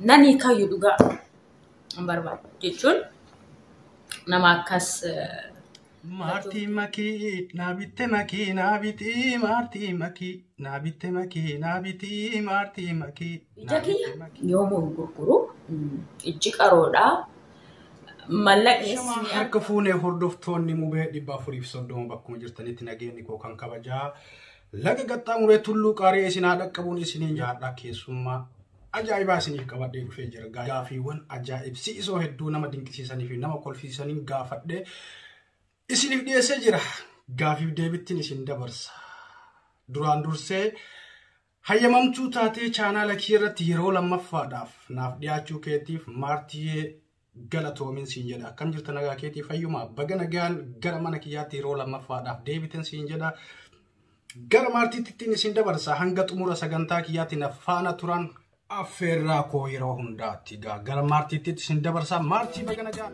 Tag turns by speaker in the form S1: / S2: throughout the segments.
S1: nan hiikayyu dhugaa hin barbaadu jechuun nama akkas eh,
S2: Maartii makii naa bitte makii naa bitii maartii makii naa bitte makii naa bitii maartii makii ija naa kiyya bitte
S1: makii. yoomuu hin gurguru Mm, ijji qaroodha mallaqni Shama isin harka fuune
S2: hordoftoonni mubee dhibba afuriif soddoma bakkuma jirtanitti nageenyi koo kan kabajaa Laga qaxxaamuree tulluu qaari'ee isin haa dhaqqabuun isiniin jaadhaa keessummaa ajaa'ibaa isiniif qabadhee dhufee jira. Gaafiiwwan ajaa'ibsiisoo hedduu nama dinqisiisanii fi nama kolfiisaniin gaafadhee isiniif dhiyeessee jira. Gaafiif deebittiin isin dabarsa. Duraan dursee hayyamamtuu taatee chaanaala kee irratti yeroo lammaffaadhaaf naaf dhiyaachuu keetiif maartiyyee galatoomin siin jedha akkam jirta nagaa keetii fayyuma baga nagaan gara mana kiyyaatti yeroo lammaffaadhaaf deebiten siin jedha gara maartiittittiin isin dabarsa hanga xumura sagantaa kiyyaatti na faana turan affeerraa koo yeroo hundaatti egaa gara maartiitti isin dabarsa maartii baga nagaan.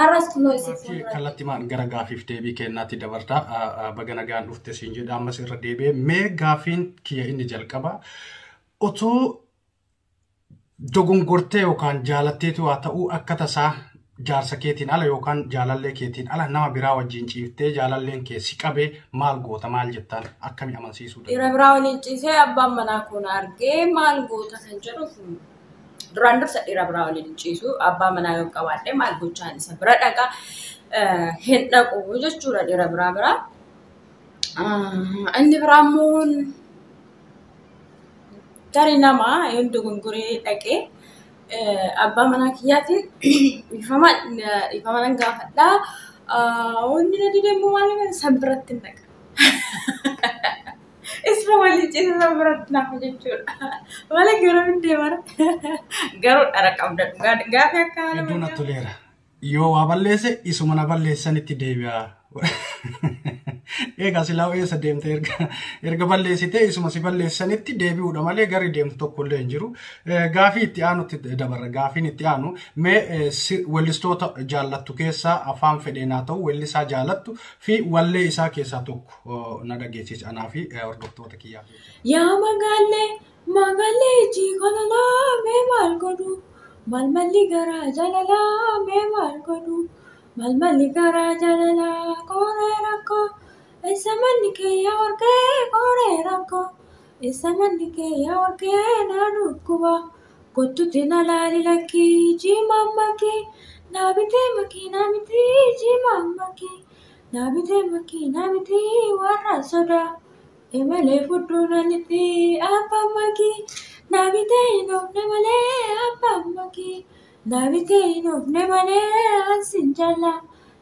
S1: Har'as kunoo isin Gaaffii fuuldura. kallattimaan gara gaaffiif
S2: deebii kennaatti dabarta. Baga nagaan dhufte siin jedha ammas irra deebi'ee mee gaaffiin kiyya inni jalqaba otoo dogongortee yookaan jaalatteetu haa ta'uu akka tasaa jaarsa keetiin ala yookaan jaalallee keetiin ala nama biraa wajjin ciiftee jaalalleen kee si qabee maal goota maal jettaan akkami amansiisuu Dhiira danda'a? biraa waliin ciisee
S1: abbaan manaa koo na argee maal goota kan jedhuuf Duraan dursa dhiira biraa waliin hin ciisu. Abbaa manaa yoo qabaadhe maal gochaan isa bira dhaqa hin dhaqu jechuudha dhiira biraa biraa. Inni biraa immoo tarii nama yoon dogongoree dhaqee abbaa manaa kiyyaatiin dhiifama dhiifama nan gaafadhaa. Wanni na dide immoo maal san biratti hin dhaqa. Isma waliin ciisisaa biratti nafa jechuudha. Wala garuu hin deemara. Garuu dhara qabda dhugaa gaafi akka haala Hedduu natti toleera.
S2: Yoo waa balleesse isuma na balleessanitti deebi'a. Egaa silaa eessa deemte erga erga balleessitee isuma si balleessanitti deebi'uudha malee garri deemtu tokko illee hin jiru. Eh, Gaafii itti aanutti dabarra. Gaafiin itti aanu mee eh, si- weellistoota jaallattu keessaa afaan fedheen haa ta'u weellisaa jaalattu fi wallee isaa keessaa tokko. na dhageessis anaa fi hordoftoota kiyyaa. Yaa magaallee
S1: magaallee ijji kololaa mee maal godhu malmalli garaa jalalaa mee maal godhu malmalli garaa jalalaa qooree rakkoo eessa manni kee yaa warqee qooree rakkoo eessa manni kee yaa warqee naa dhukkuba kottuti na laali lakkii jiimaan makii naa bitee makii naa mitii jiimaan makii. Naa bitee makkii naa bitee warra sodaa. Emalee fudduu na lixxii abbaan makkii. Naa bitee hin oofne malee abbaan makkii. Naa bitee hin oofne malee ansin jallaa.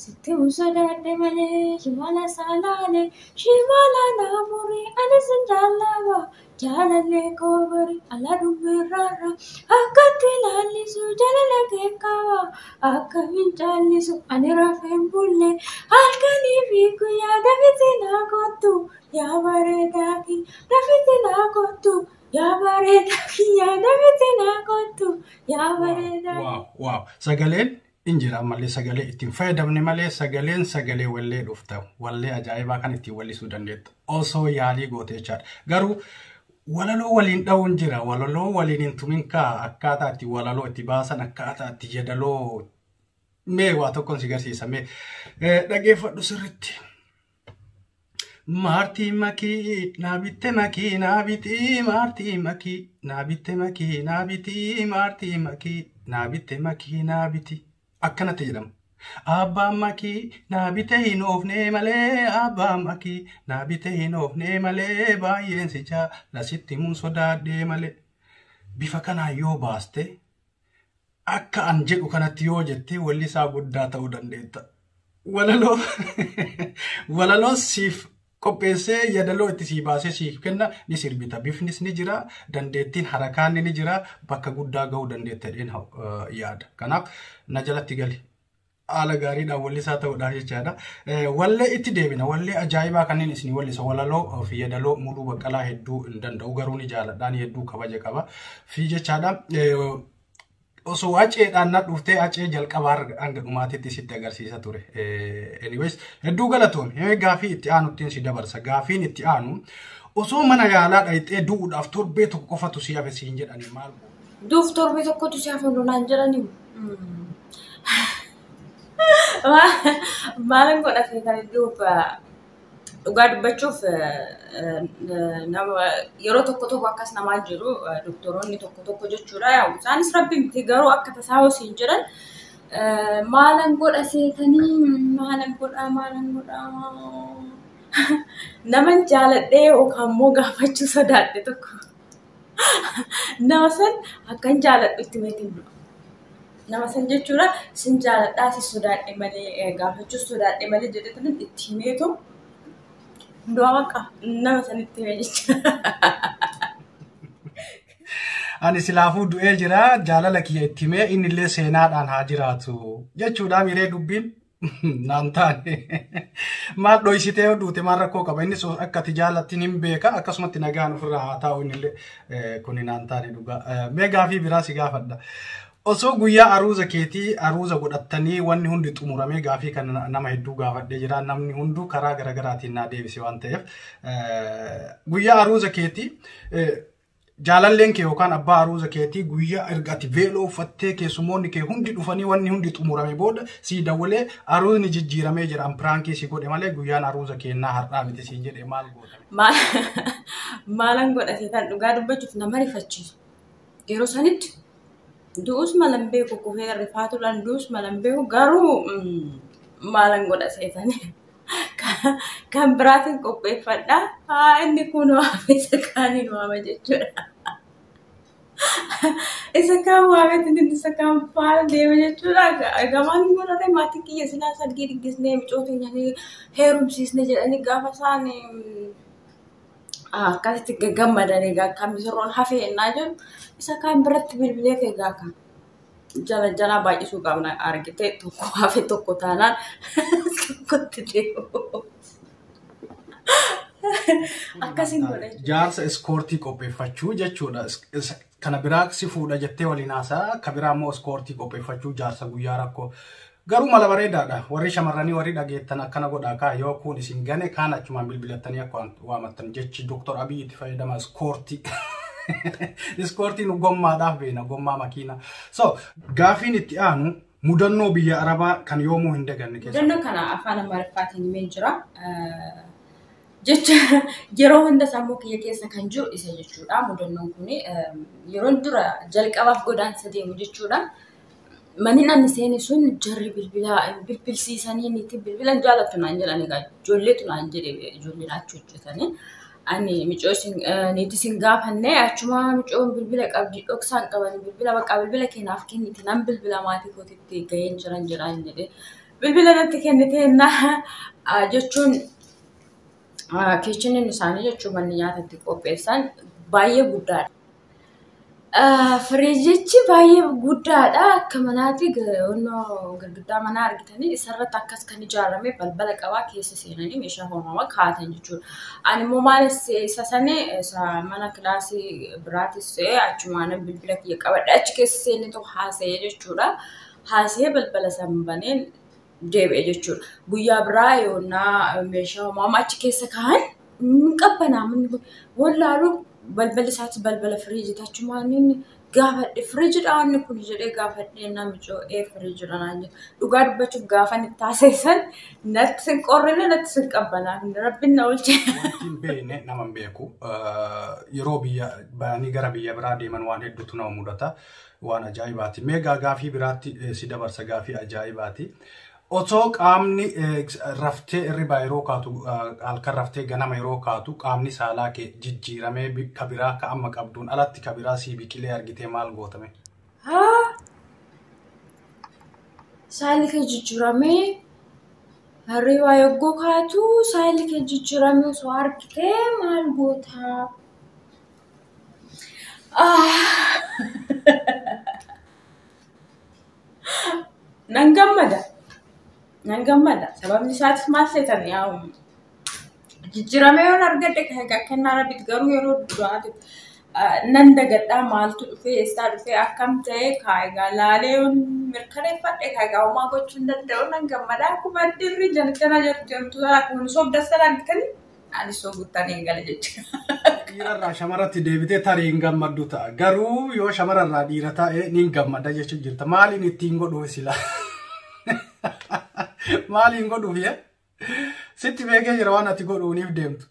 S1: Sitti hin sodaadhe malee shimala saalaalee. Shimala naa murii ani sin jallaaba. Jaalallee koo bari ala dhumerraarra akkatti laallisu jaalala kee qaba akkamiin caallisu ani rafeen bulle halkanii fi guyyaa dafiti naa kottu yaa bareedaa kiyya dafiti naa kottu yaa bareedaa kiyya dafiti naa kottu yaa bareedaa Waaw, waaw. Sagaleen
S2: in jira ammallee sagalee ittiin fayyadamne malee sagaleen sagalee wallee dhufta wallee ajaa'ibaa kan ittiin wallisuu dandeettu osoo yaalii gootee jechaadha garuu walaloo waliin dha'uun jira walaloo waliin hin tumin kaa akkaataa itti walaloo itti baasan akkaataa itti jedaloo mee waa tokkoon si garsiisa mee Eh, dhageeffadhu sirritti Maartii makii naa bitte makii naa bitii maartii makii naa bitte makii naa bitii maartii makii naa bitte makii naa biti akkanatti jedhama. Abbaan makii naa bite hin oofnee malee abbaan makii naa bite hin oofnee malee baay'een si jaala sitti mun sodaadhee malee. Bifa kanaan yoo baaste Akka an jedhu kanatti yoo jette wallisaa guddaa ta'uu dandeetta. Walaloo walaloo siif qopheessee yadaloo itti sii baasee siif kenna ni sirbita. Bifnis ni jira, dandeettiin harakaan ni jira, bakka guddaa ga'uu dandeetta jedheen yaada. Kanaaf na jalatti gali. haala gaariidhaan wallisaa ta'uudhaaf jechaadha. Wallee itti deebina. Wallee ajaa'ibaa kanneen isin wallisa. Walaloo fi yeedaloo muluu baqqalaa hedduu hin danda'u garuu ni jaaladhaan hedduu kabaja qaba. Fi jechaadha. Osoo aceedhaan na dhuftee acee jalqabaa hanga dhumaatitti sitti agarsiisa ture. Anyways hedduu galatoom. Gaafii itti aanuttiin si dabarsa. Gaafiin itti aanu osoo mana yaalaa dhayxee du'uudhaaf torbee tokko qofatu si hafe siin jedhani maal Duuf torbee tokkotu si
S1: hafa nu naan jedhanii. Maalin godha feetanii duuf dhugaa dubbachuuf nama yeroo tokko tokko akkas namaa jiru doktoroonni tokko tokko jechuudha. Yaa'u isaanis rabbi miti garuu akka tasaa hosiin jedhan maalan godha seetanii maalan godha maalan godha naman jaaladhee yookaan immoo gaafachuu sodaadhe tokko. nama san akkan jaaladhu itti mati nama san jechuudha sin jaaladhaa si sodaadhe malee gaafachuus sodaadhe malee jedhe tanan itti himeetu du'a baqa nama san itti hime jecha.
S2: Ani silaafuu du'ee jira jaalala kiyya itti himee inni illee seenaadhaan haa jiraatu jechuudha miree dubbiin. Naan taane maal dhoysitee yoo duute maal rakkoo qaba innis akka ati jaalattiin hin beeka akkasumatti nagaan ofirraa haa taa'u innillee kuni naan taane dhugaa mee gaafii biraa si gaafadha. Osoo guyyaa aruuza keetii aruuza godhattanii wanni hundi xumuramee gaafii kan nama hedduu gaafadhee jira namni hunduu karaa garaagaraatiin naa deebise waan ta'eef guyyaa aruuza keetii Jaalalleen kee yookaan abbaa aruuza keetii guyyaa erga ati veeloo uffattee keessummoonni kee hundi dhufanii wanni hundi xumurame booda sii dawwalee aruuzni jijjiiramee jira an piraankii si godhe malee guyyaan aruuza keennaa har'aa miti siin jedhe maal goota? Maalan
S1: godha seetan dhugaa dubbachuuf nama rifachiisu. Yeroo sanitti du'us malan beeku kufee rifaatuudhaan du'us malan beeku garuu maalan godha seetanii. kan biraatiin qopheeffadha. Haa inni kun waame isa kaaniin waama jechuudha. Isa kaan waametti inni isa kaan faana deema jechuudha. Gamaan hin godhane maatii kiyya silaa sargii diggisnee micoo teenyanii heerumsiisne jedhanii gaafa isaan akkasitti gammadanii kan misirroon hafee ennaa jiru isa kaan biratti bilbilee kee gaafa. jala jalaa baay'isuu qabna argite tokko hafe tokko taanaan tokkotti deemu. Akkasiin godha jechuudha. Jaarsa iskoortii
S2: qopheeffachuu jechuudha. Is- is- Kana biraa si fuudha jettee waliin haasaa, ka biraa immoo iskoortii qopheeffachuu jaarsa guyyaa rakkoo. Garuu mala bareedaadha. Warri shamarranii warri dhageettan akkana godhaa kaa yoo kuun isin gane kaan achumaan bilbilattanii akka waamattan jechi Dr. Abiy itti fayyadama iskoortii. Iskoortiin gommaadhaaf beena gommaa makiina. So gaafiin itti aanu mudannoo biyya Arabaa kan yoomuu hin daganne keessa. Mudannoo kana afaan
S1: Amaariffaatiin himeen jira. Jecha yeroo hunda sammuu kiyya keessa kan jiru isa jechuudha. Mudannoon kun yeroo dura jalqabaaf godaansa deemu jechuudha. Maniin ani seene sun jarri bilbilaa bilbilsiisanii miti bilbila hin jaalattu naan jedhan egaa ijoolleetu naan jedhe ijoolleen achi hojjetanii. Ani micoo isin niitii isin gaafanne achuma micoon bilbila qabdi dhoksaan qaban bilbila bakka bilbila keenyaaf kennite nan bilbila maatii kootitti ga'een jiran jedhaan jedhe. Bilbila natti kennite naa jechuun keechiniin isaanii jechuun manni nyaata itti qopheessan baay'ee guddaadha. Firiijichi baay'ee guddaadha. Akka manaatti girgiddaa manaa argitanii isarratti akkas kan ijaarame balbala qaba. Keessa seenanii meeshaa hoo'aman kaa'atan jechuudha. Animmoo maalif isa sani mana kilaasii biraatis ta'ee achumaanan bilbila kiyya qabadhee achi keessa seeneetoo haasa'e jechuudha. Haasa'ee balbala sana baneen. deebi'e jechuudha. Guyyaa biraa yoonnaa meeshaa homaa achi keessa kaa'an hin qabbanaa manni kun wallaalu balbala isaatti balbala firiijiiti achumaan inni gaafadhe firiijidha inni kun jedhee gaafadhe namichoo ee firiijidha naan jedhe dhugaa dubbachuuf gaafan itti haasa'esan natti sin qorrine natti sin qabbanaa rabbiin na oolche. Wanti hin beekne
S2: nama hin beeku. Yeroo biyya bahanii gara biyya biraa deeman waan hedduutu nama mudata. Waan ajaa'ibaati. Mee gaa gaafii biraatti eh, si dabarsa gaafii ajaa'ibaati. Otoo qaamni eh, raftee irribaa yeroo kaatu ah, halkan raftee ganama yeroo kaatu qaamni saalaa kee jijjiiramee bi- ka biraa ka amma qabduun alatti ka biraa sii biqilee argitee maal gootame? Haa
S1: saalli kee jijjiiramee hirribaa yogguu kaatu saalli kee jijjiiramee osoo argitee maal gootaa? Nan gammada. Nan gammada. Sababni isaatis maal seetan yaa jijjiiramee yoon argadhe kennaa rabbiiti garuu yeroo duraati. Nan dagadhaa maaltu dhufee eessaa dhufee akkam ta'ee kaayigaa laalee yoon mirkaneeffadhe kaayigaa homaa gochuu hin danda'u nan gammada. Akkuma dirri jana jana jedhu deemtu sana kun sobda sana argitanii? Ani soo guttaan hin gala jecha. Dhiirarraa
S2: shamarratti deebitee tarii hin gammaddu ta'a. Garuu yoo shamararraa dhiira ta'e ni gammadda jechuun jirta. Maaliin ittiin godhuu sila? Maaliin godhuuf yaa? Sitti beekee jira waan ati godhuuniif deemtu.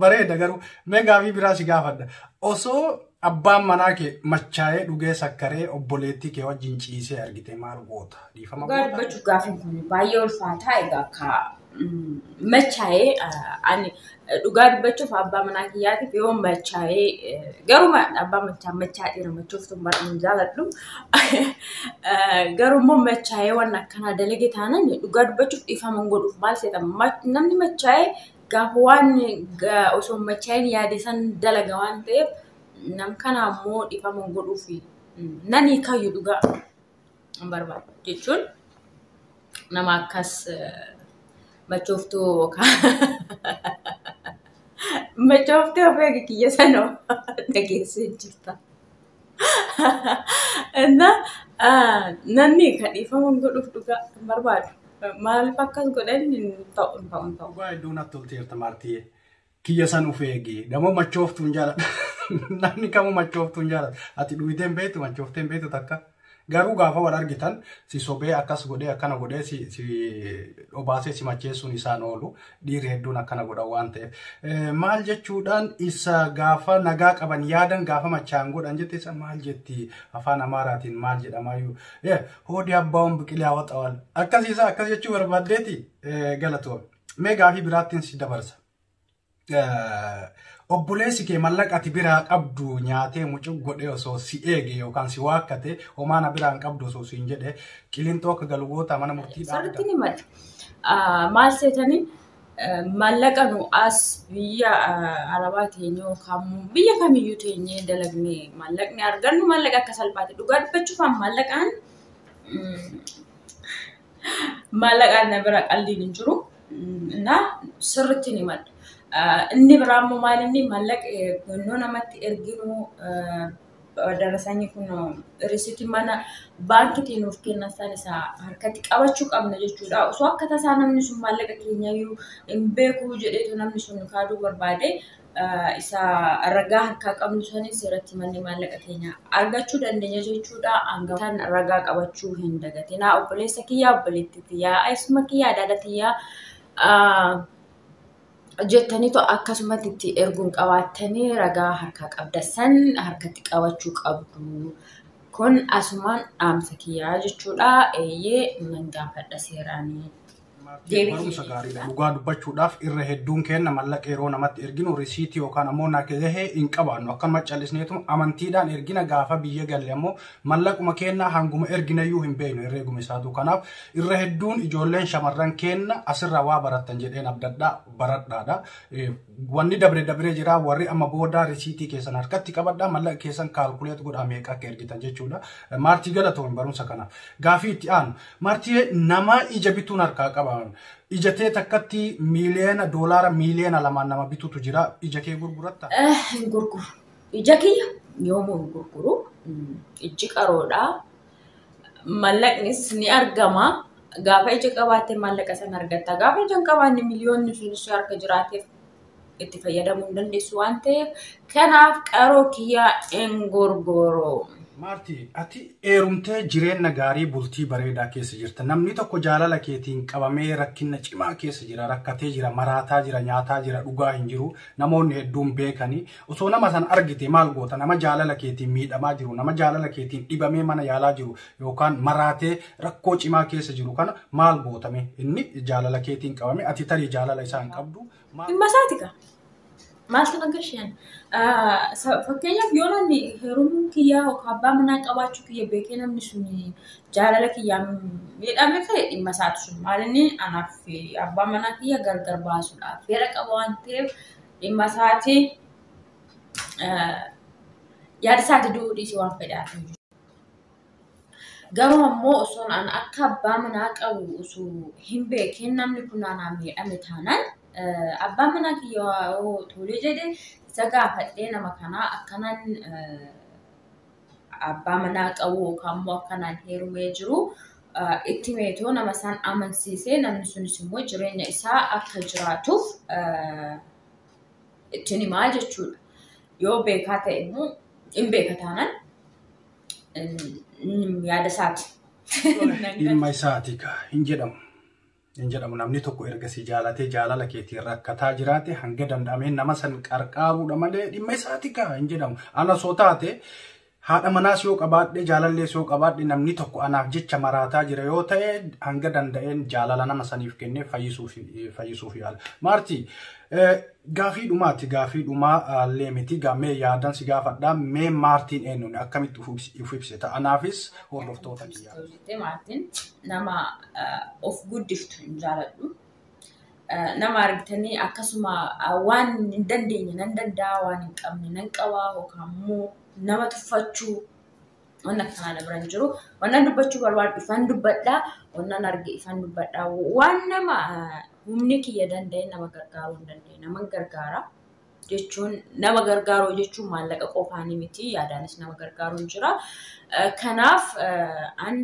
S2: Bareeda garuu mee gaafii biraa si gaafadha. Osoo Abbaan manaa kee machaa'ee dhugee sakkaree obboleettii kee wajjin ciisee argite maal goota? Dhiifama Dhugaa goota? dubbachuuf gaafiin kun
S1: baay'ee ulfaataa egaa akka mm, machaa'ee eh, ani eh, dhugaa dubbachuuf abbaa manaa kiyyaatiif yoo machaa'ee eh, garuu ma- abbaa machaa machaa dhiira machooftuu baay'ee hin jaaladhu Eh, garuu immoo machaa'ee waan akkanaa dalage taanan dhugaa dubbachuuf dhiifama hin godhuuf maal seetan namni machaa'ee gaafa waan osoo hin machaa'in yaade san dalaga waan ta'eef nam kana ammoo dhifama godhuuf nan hiikayyu dhugaa hin barbaadu jechuun nama akkas machooftuu yookaan machooftuu ofii kiyya sanoo dhageessee jirta. እና namni ka dhiifama hin godhuuf dhugaa hin barbaadu. Maaliif akkas godhan hin ta'u hin ta'u hin ta'u. Dhugaa hedduu natti
S2: tolti jirta maartiyyee. Kiyya san of eegi. Gamoo machooftuun jaalladha. Namni kamuu machooftuun jaalladha. Ati dhugiteen beektu machoofteen beektu takka. Garuu gaafa wal argitan si sobee akkas godhee akkana godhee si, si obaasee si macheessuun isaan oolu dhiirri hedduun akkana godhan waan ta'eef. Eh, Maal jechuudhaan isa gaafa nagaa qaban yaadan gaafa machaa'an godhan jette isa maal jetti afaan amaaraatiin maal jedhamaayyuu. Eh, Hoodii abbaawwan biqilee hawaxawal. Akkasiisa akkas jechuu barbaaddeeti eh, galatoom. Mee gaafii biraattiin si dabarsa. obboleessi kee mallaqa ati biraa qabdu nyaatee mucuq godhee osoo si eege yookaan si waakkate homaana biraan qabdu osoo siin jedhe qilinxoo akka galu goota mana murtii Sirriitti ni mali.
S1: Maal seetanii maallaqa nu as biyya arabaa teenyee yookaan biyya kamiyyuu teenyee dalagnee maallaqni argannu maallaqa akka salphaatti dhugaa dubbachuuf maallaqaan Maallaqaan na bira qalliin hin jiru. Innaa sirriitti ni madda. Inni biraa immoo maal inni maallaqa yeroo namatti erginu darasanii kun risiti mana baankitiin nuuf kennan san isa harkatti qabachuu qabna jechuudha. Osoo akka tasaa namni sun maallaqa keenya iyyuu hin beeku jedheetu namni sun kaaduu barbaade isa ragaa harkaa qabnu sanis irratti manni maallaqa keenya argachuu dandeenya jechuudha. Hangaftan ragaa qabachuu hin dagatinaa. Obboleessa kiyyaa obboleetti tiyyaa isuma kiyyaa adaada tiyyaa jettaniitu akkasumatti itti erguun qabaattanii ragaa harkaa qabda san harkatti qabachuu qabdu. Kun asumaan dhaamsa kiyyaa jechuudha. Eeyyee nan gaafadha seeraanii. Deebii barumsa
S2: kee gaariidha. eebbisa. Dhugaa dubbachuudhaaf irra hedduun keenna mallaqa yeroo namatti erginu risiitii yookaan ammoo nagahee hin qabaannu. Akkanuma callisneetu amantiidhaan ergina gaafa biyya galle ammoo mallaquma keenna hanguma erginayyuu hin beeknu herreeguma isaatu. Kanaaf irra hedduun ijoolleen shamarran keenna asirraa waa barattan jedheen abdadhaa baradhaadha. Eh, Wanni dabre dabree jira warri amma booda risiitii keessan harkatti qabadha mallaqa keessan kaalkuleet godhaa meeqa akka ergitan jechuudha. Maartii galatoon barumsa kana. Gaafii itti aanu. Maartii nama ija bituun harkaa qaba. Ija tee takkatti miiliyoona doolaara miiliyoona lamaan nama bitutu jira. Ija kee gurguratta. Hin gurguru.
S1: Ija kiyya yoomuu hin gurguru. Ijji qaroodhaa. mallaqnis ni argama. Gaafa ija qabaatte maallaqa sana argatta. Gaafa ija hin qabaanne miliyoonni sun ishee harka jiraateef itti fayyadamuu hin dandeessu waan ta'eef kanaaf qaroo kiyyaa hin gorgoroo. Maarti,
S2: ati heerumtee jireenna gaarii bultii bareedaa keessa jirta. Namni tokko jaalala keetiin qabamee rakkinna cimaa keessa jira, rakkatee jira, maraataa jira, nyaataa jira, dhugaa hin jiru. Namoonni hedduun beekani. Osoo nama san argite maal goota? Nama jaalala keetiin miidhamaa jiru, nama jaalala keetiin dhibamee mana yaalaa jiru yookaan maraatee rakkoo cimaa keessa jiru kana maal goota mee? Inni jaalala keetiin
S1: qabame
S2: ati tarii jaalala isaa
S1: hin
S2: qabdu. maal- Dhimma isaati kaa. Maaltu
S1: na gashaan? Fakkeenyaaf yoo namni heerumuu kiyyaa yookaan abbaa manaa qabaachuu kiyya beekee namni sun jaalala kiyyaan miidhame ta'e dhimma isaati sun. Maal inni anaaf abbaa manaa kiyya gargar baasuudhaaf fedha qaba waan ta'eef dhimma isaati yaada isaati du'uu dhiisii waan fedhaa kan jiru. Garuu ammoo osoo an akka abbaa manaa qabu osoo hin beekin namni kun anaan miidhame taanaan abbaa manaa kiyya yoo tole jedhe isa gaafadhee nama kanaa akkanaan abbaa manaa qabu yookaan immoo akkanaan heerumee jiru itti meetoo nama isaan amansiisee namni sunis immoo jireenya isaa akka jiraatuuf ittiin himaa jechuudha. Yoo beekaa ta'e immoo hin beeka taanaan yaada isaati. Ilma
S2: isaati kaa hin jedhamu. hin jedhamu namni tokko erga si jaalatee jaalala keetiin rakkataa jiraate hanga danda'amee nama san qarqaaruudha malee dhimma isaati kaa hin jedhamu ana soo taate haadha manaas yoo qabaadhe jaalallees yoo qabaadhe namni tokko anaaf jecha maraataa jira yoo ta'e hanga danda'een jaalala nama saniif kennee fayyisuuf fayyisuuf yaala. Maartii gaafii dhumaati gaafii dhumaa illee miti gaamee yaadan si gaafadha mee maartiin eenyuun akkamitti of ibsita anaafis hordoftoota ni yaala. Maartin
S1: nama of guddiftu hin jaaladhu. Nama argitanii akkasuma waan hin dandeenye nan danda'a, waan hin qabne nan qaba yookaan immoo nama tuffachuu waan akkanaa na bira hin jiru. Waan dubbachuu barbaadu ifaan dubbadha, waan arge ifaan dubbadha. Waan nama humni kiyya danda'e nama gargaaruu hin dandeenye nama gargaara. jechuun nama gargaaruu jechuun maallaqa qofaan miti yaadaanis nama gargaaruun jira. Kanaaf an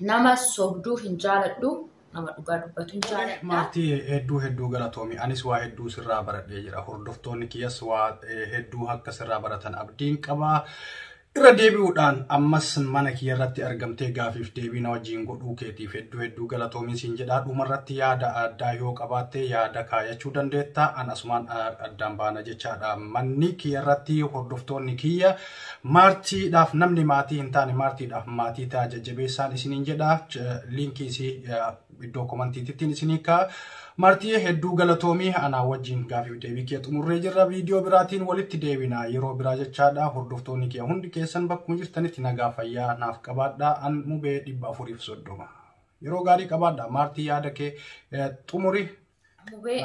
S1: nama sobduu hin jaaladhu nama dhugaa dubbatu hin jaaladha. Maatii hedduu
S2: hedduu galatoomi. Anis waa hedduu sirraa baradhee jira. Hordoftoonni kiyyas waa hedduu akka sirraa baratan abdiin qaba. Irra deebi'uudhaan ammas mana kiyya irratti argamtee gaafiif deebii na wajjin godhuu keetiif hedduu hedduu galatoomiin siin jedhaa dhuma irratti yaada addaa yoo qabaatte yaada kaayachuu dandeetta an asumaan addaan baana jechaadha manni kiyya irratti hordoftoonni kiyya maartiidhaaf namni maatii hin taane maartiidhaaf maatii ta'a jajjabeessaan isiniin jedha liinkii isii iddoo komantiitittiin isin hiikaa. Martiyee hedduu galatoomii anaa wajjin gaafiif deebii kee xumurree jirra viidiyoo biraatiin walitti deebina yeroo biraa jechaadha hordoftoonni kee hundi keessan bakkuma jirtanitti nagaa fayyaa naaf qabaadha an mubee dhibba afuriif soddoma. Yeroo gaarii qabaadha maartii yaada kee xumuri Mubee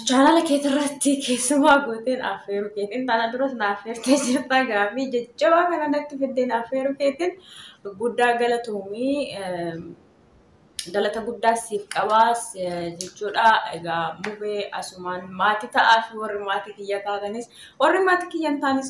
S1: chaanala keetii irratti keessumaa gooteen affeeruu keetiin tana duras na affeertee jirta gaaffii jajjabaa kana natti fiddeen affeeruu keetiin guddaa galatoomii galata guddaa siif qabaas jechuudha. Egaa mubee asumaan maatii ta'aa fi warri maatii kiyya taatanis warri maatii kiyya hin taanis